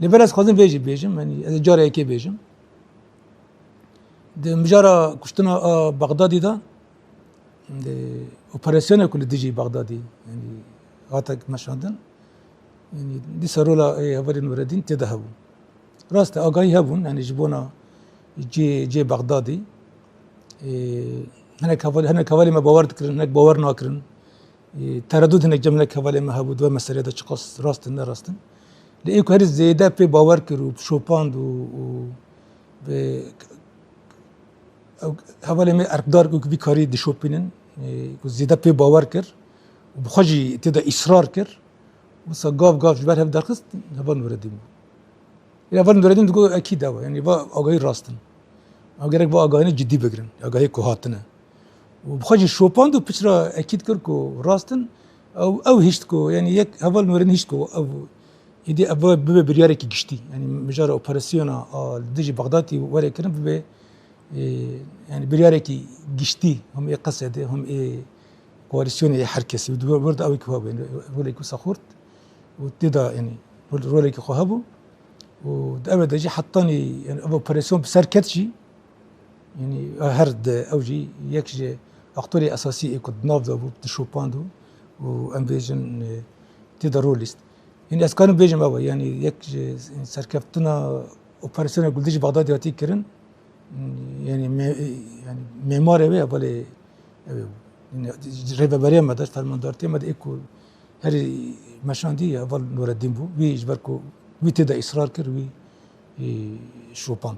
Li ber ez xwazim vê jî bêjim yani ez ê cara yekê bêjim. Di mijara kuştina a Bexdadî de di operasyona ku li dijî Bexdadî yani hate meşandin yani dîsa rola ê hevalên Nureddîn tê de hebû. Rast e agahî hebûn yani ji bona cê cê Bexdadî hinek hevalê me bawer dikirin hinek bawer nakirin. Teredûd hinek cemilek hevalê me hebû di we meseleyê de çiqas rast in ne rast in. Lê ê ku herî zêde pê bawer kir û şopand û û bi ew hevalê me erkdar ku vî karî dişopînin ku zêde pê bawer kir û bi xwe jî tê de îsrar kir wisa gav gav ji ber hev derxist heval Nureddîn bû. Lê heval Nureddîn digot ekîd ew e yanî va agahî rast in. Ew gerek va agahînê cidî bigirin agahiyê ku hatine. û bi xwe jî şopand û piçra ekîd kir ku rast in ew ew hişt ku yanî yek heval werin hişt ku ew êdî ev bibe biryarekî giştî yanî mijara operasyona a li dijî Bexdatî were kirin bibe yanî biryarekî giştî hûn ê qesedê hûn ê koalîsyonê ê her kesî di wir de ew ku hebû rolek wisa xurt û tê de yanî rolekî xwe hebû û di ev de jî hetanî ev operasyon bi ser ket jî Her di ew jî yek ji aktorê esasî ê ku di nav de bû dişopand û em bêjin tê de rol lîst. Yanî ez karim bêjim ew e yanî yek ji serkeftina operasyona ku li dijî Bexdadê hatiye kirin yanî yanî mêmarê wê ye belê ew ê bû. Rêveberiya me de fermandartiya me de ê ku herî meşandî heval Nureddîn bû. Wî ji ber ku wî tê de îsrar kir wî şopand.